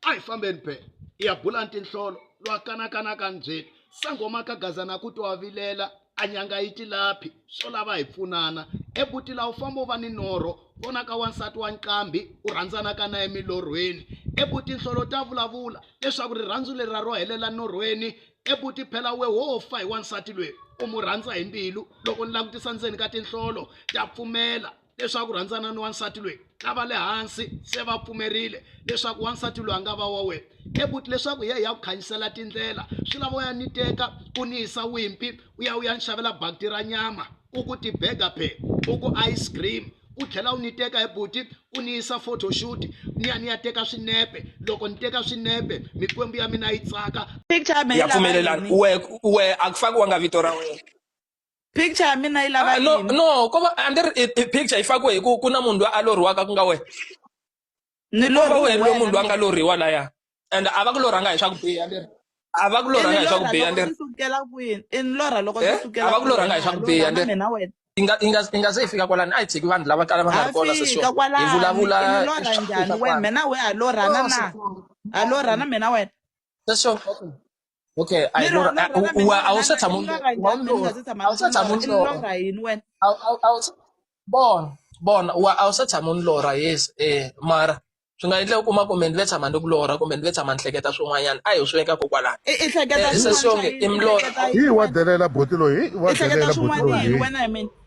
a hi fambeni be ya bula ntinhlolo lwa kanakanaka nbyeni sangoma ka gazana ku twa vilela a nyanga yi tilaphi swo lava hi pfunana ebutila u famba u va ni norho vona ka wansati wa nqambi u rhandzanaka na emilorhweni ebuti nhlolo ta vulavula leswaku rirhandzu leri ra ro helela norhweni ebuti phela we wo fa hi wansati lweyi u mu rhandza hi mbilu loko ni langutisa ndzeni ka tinhlolo ta pfumela leswaku rhandzana ni wansati loyi ka va le hansi se va pfumerile leswaku wansati loyi a nga va wa wena ebuti leswaku ye ya ku khanyisela tindlela swi lava u ya ni teka u ni yisa wimpi u ya u ya ni xavela bakiti ra nyama u ku tibega phe u ku ice cream u tlhela u ni teka hi buti u ni yisa photoshoot ni ya ni ya teka swinepe loko ni teka swinepe mikwembu ya mina yi tsaka ya pfumelelana we we a ku fakiwanga vito ra wena picture ya mina yi lava ah, no yini no ko va a ni ri i- i picture yi fakiwe hi ku ku na munhu loyi a lorhiwaka ku nga wena ni ko va wena loyi munhu loyi a nga lorhiwa laya and a va ku lorhanga hi swa ku biha ni ri a va ku lorhanga hi swa ku biha ni ri sukela kwini i ni lorha loko Eh? sukela A va ku lorhanga hi swa ku biha, ni- mina wena yi nga yi nga yi nga se yi fika kwalani a yi tshiki vanhu lava kala va nga ri kona se swona hi vulavula i ni lorha njhani wena mina we ha lorhana na ha lorhana mina wena se swona okay a yi lorha a- u- u- a wu se tshama u lorha, a wu lorha. A wu se tshama u lorha. lorha yini wena A wu- a wu- a wu se- bona bona wa a wu se tshama u ni lorha yes eh mara swi nga endleka u kuma kumbe ni ve tshama ni ku lorha kumbe ni ve tshama ni hleketa swin'wanyana a hi swi veka kokwalani i i hleketa Eh, swin'wana sesi yonke swa yini? i milorho. I hleketa hi wa yini? delela boti loyi hi wa I hleketa delela boti swin'wana loyi yini hi. wena hi mina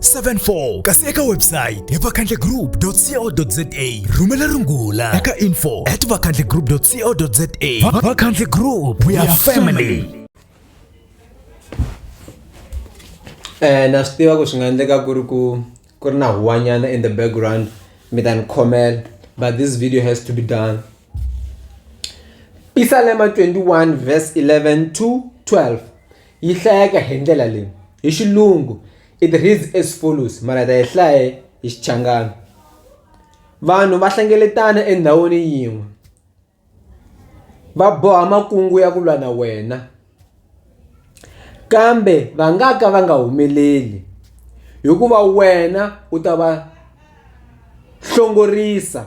74 kasi eka website hi vakhandlegroup.co.za rhumela rungula eka info at vakhandlegroup.co.za vakhandle group we are family eh na swi tiva ku swi nga endleka ku ri ku ku ri na huwanyana in the background mi ta ni khomela but this video has to be done pisalema 21 verse 11 to 12 Yi hlayeka hi ndlela leyi hi xilungu it reads as follows mara hi ta yi hlaya hi Xichangana vanhu va hlengeletana endhawini yin'we va boha makungu ya ku lwa na wena kambe va nga ka va nga humeleli hikuva wena u ta va hlongorisa.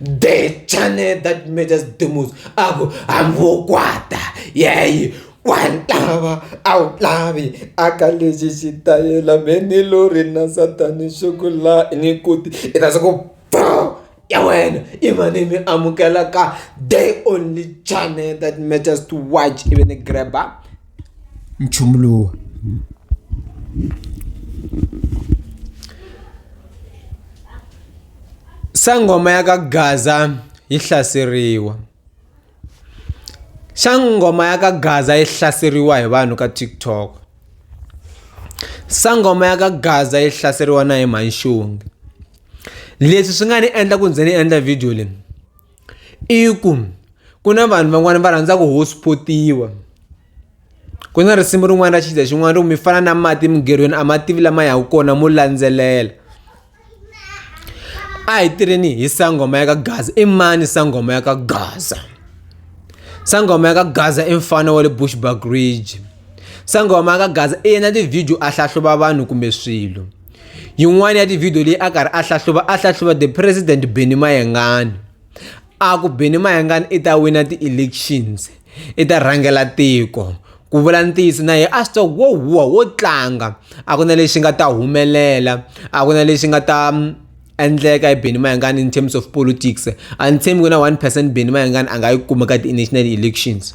the channel that matters the most a ku hambokwata yeyi wa lava a wu lavi aka lexi xitayela me ni lo ri na satani xo ku la ni kuti i ta swa ku bo ya wena i mane mi amukela ka the only channel that matters to watch ivi ni grab-a. nchumu lowu sangoma ya ka gaza yi hlaseriwa sangoma ya ka gaza yi hlaseriwa hi vanhu ka tiktok sangoma ya ka gaza yi hlaseriwa na hi manxunge leswi swi nga ni endla ku ndzi ni endla video leyi I ku ku na vanhu van'wani va rhandza ku host-potiwa ku na risimu rin'wana ra xidzedze xin'wana ri ku mi fana na mati emigerhweni a ma tivi lama yaka kona mo landzelela a hi tirheni hi sangoma ya ka gaza i mani sangoma ya ka gaza sangoma ya ka gaza i mufana wa le Bushbuckridge. Sangoma ka Gaza i yena tivhidiyo a hlahluva vanhu kumbe swilo yin'wana ya tivhidiyo leyi a karhi a hlahluva a hlahluva the president Benny Mayengani a ku Benny Mayengani i ta wina ti-elections i ta rhangela tiko ku vula ntiyiso na yena a swi tiva wo huwa wo tlanga a ku na lexi nga ta humelela a ku na lexi nga ta mm, endleka hi Benny Mayengani in terms of politics a ni tshembi ku na one percent Benny Mayengani a nga yi kuma ka ti-national elections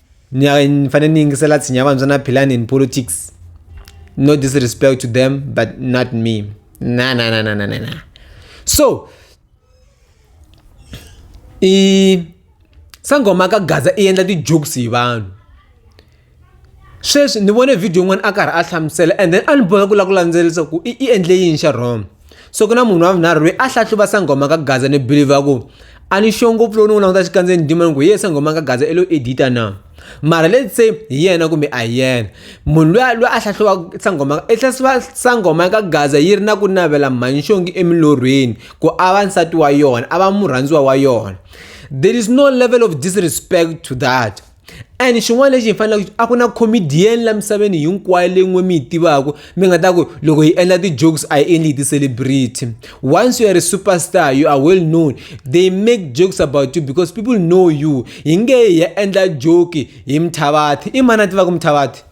ni fanele ni yingisela tshinya vantshwa na philani in politics no disrespect to them but not me na na na na na na na so i sangoma ka gaza i endla ti-jokes hi vanhu sweswi ni vone video yin'wana a karhi a hlamusela and then a ni boheka ku lava ku landzelerisa ku i i endle yini xa wrong. so ku na munhu wa vunharhu loyi a hlahluva sanghoma ka gaza ni believe a ku a ni xo ngopfu lowu ni n'wi languta xikandzeni ndima ni ku ye sanghoma ka gaza i lo edita na mara let's say hi yena kumbe a hi yena munhu loyi loyi a hlahluva sanghoma i hlahluva sanghoma ka gaza yi ri na ku navela mhanxongi emilorhweni ku a va nsati wa yona a va murhandziwa wa yona there is no level of disrespect to that and xin'wana lexi hi faneleke a ku na comedian la misaveni hinkwayo leyi n'we mi yi tivaka mi nga ta ku loko hi endla ti-jokes a yi endli hi ti-celebrity once you are a superstar you are well known they make jokes about you because people know you hi nge hi ya endla joke hi mthavathi i mani a tivaka mthavathi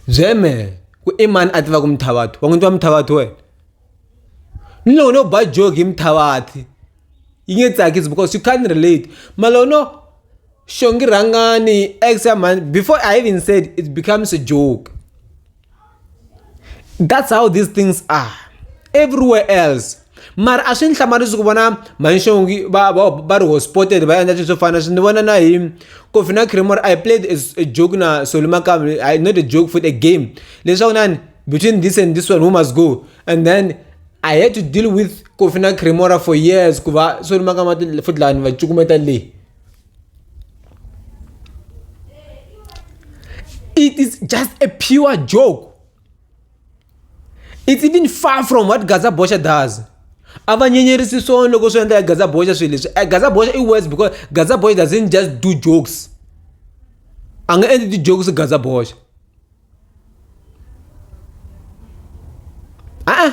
Zeme, ku i mani a tivaka Mthavathu? Wa n'wi tiva Mthavathu wena? Ni loko no ba jogi hi Mthavathu yi nge tsakisi because you can't relate mara loko no xongi rhangani ex ya mhani before I even said it becomes a joke that's how these things are everywhere else. mara a swi ni hlamarisi ku vona manxongi va va va ri hospotted va endla swilo swo fana swi ni vona na hi coffee na creamer i played a joke na solo makamba i not a joke for a game leswaku nani between this and this one who must go and then i had to deal with coffee na creamora for years ku va solo makamba futhi lani va cukumeta leyi it is just a pure joke It's even far from what Gaza Bosha does. a va nyenyerisi swona loko swi endla ya gaza boxa swilo leswi eh, gaza boxa i worse because gaza boxa doesn't just do jokes a nga endli ti-jokes gaza boxa a-a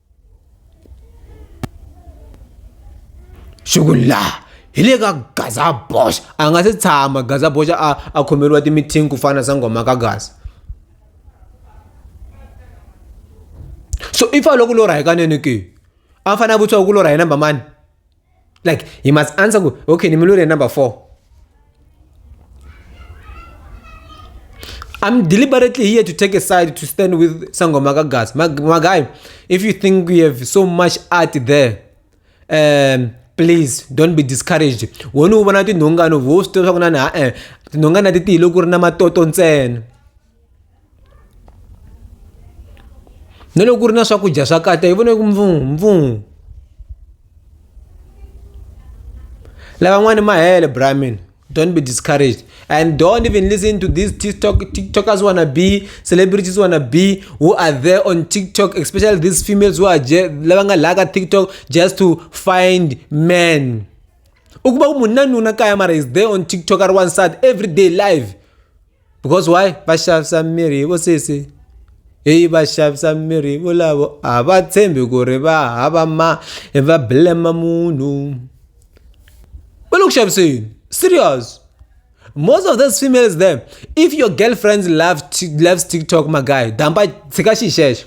shukulla hi le ka gaza bosh a nga se tshama gaza bosh a a khomeriwa timithingi ku fana sangoma ka gaza so if a loko lorha hikanene ke a fanele a vutisiwa ku lorha hi namba mani like he must answer ku okay nimulure number four I'm deliberately here to take a side to stand with Sangoma Kagas. My, my guy, if you think we have so much art there, um, please don't be discouraged. Wona u vona tinhongano vo swi tiva swa ku na na eh tinhongana ti tiyile ku ri na matoto ntsena. na loko ku ri na swakudya swa kata hi vone ku mpfumpfumfu lavan'wani ma hele brahmin don't be discouraged and don't even listen to these tiktok tiktokers wanna be celebrities wanna be who are there on tiktok especially these females who are lava nga laka tiktok just to find men ukuba ku munhu na nuna kaya mara is there on tiktok a ri wansati every day live because why va xavisa mirhi vo sesi hi va xavisa mirhi volavo a va tshembi ku ri va hava ma va blame munhu va le ku xaviseni serious most of those females them if your girlfriends love loves tiktok my guy damba tshika xi xexo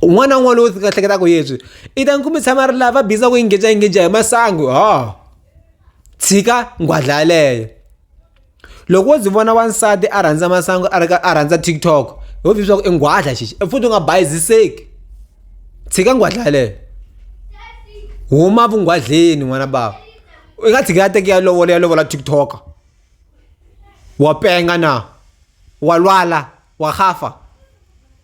un'wana na un'wana lowu ka hleketaka yeswi i ta nkumi tshama ri lava biza ku engage engage hi masangu ha tshika nghwadla yaleyo loko wo ndzi vona wansati a rhandza masangu a ri ka a rhandza tiktok ho vhi swa ku i nghwadla xixi e futhi u nga bayiziseki tshika nghwadla yaleyo huma vunghwadleni n'wana bava i nga tshika ya teke ya lovola ya lovola tiktok wa penga na wa lwala wa gafa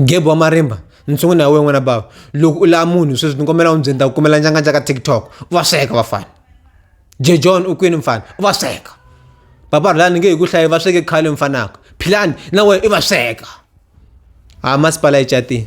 Ghebu wa marimba ndzi sungula na wena n'wana bava loko u lava munhu sweswi ni kombela u ndzi ni ta ku kumela njanga njaka TikTok u va sweka vafana Jay John u kwini mfana u va sweka Papa Rhulani ni nge hi ku hlayi va sweke khale mfanaka Philani na wena i va sweka ha masipala yi catile.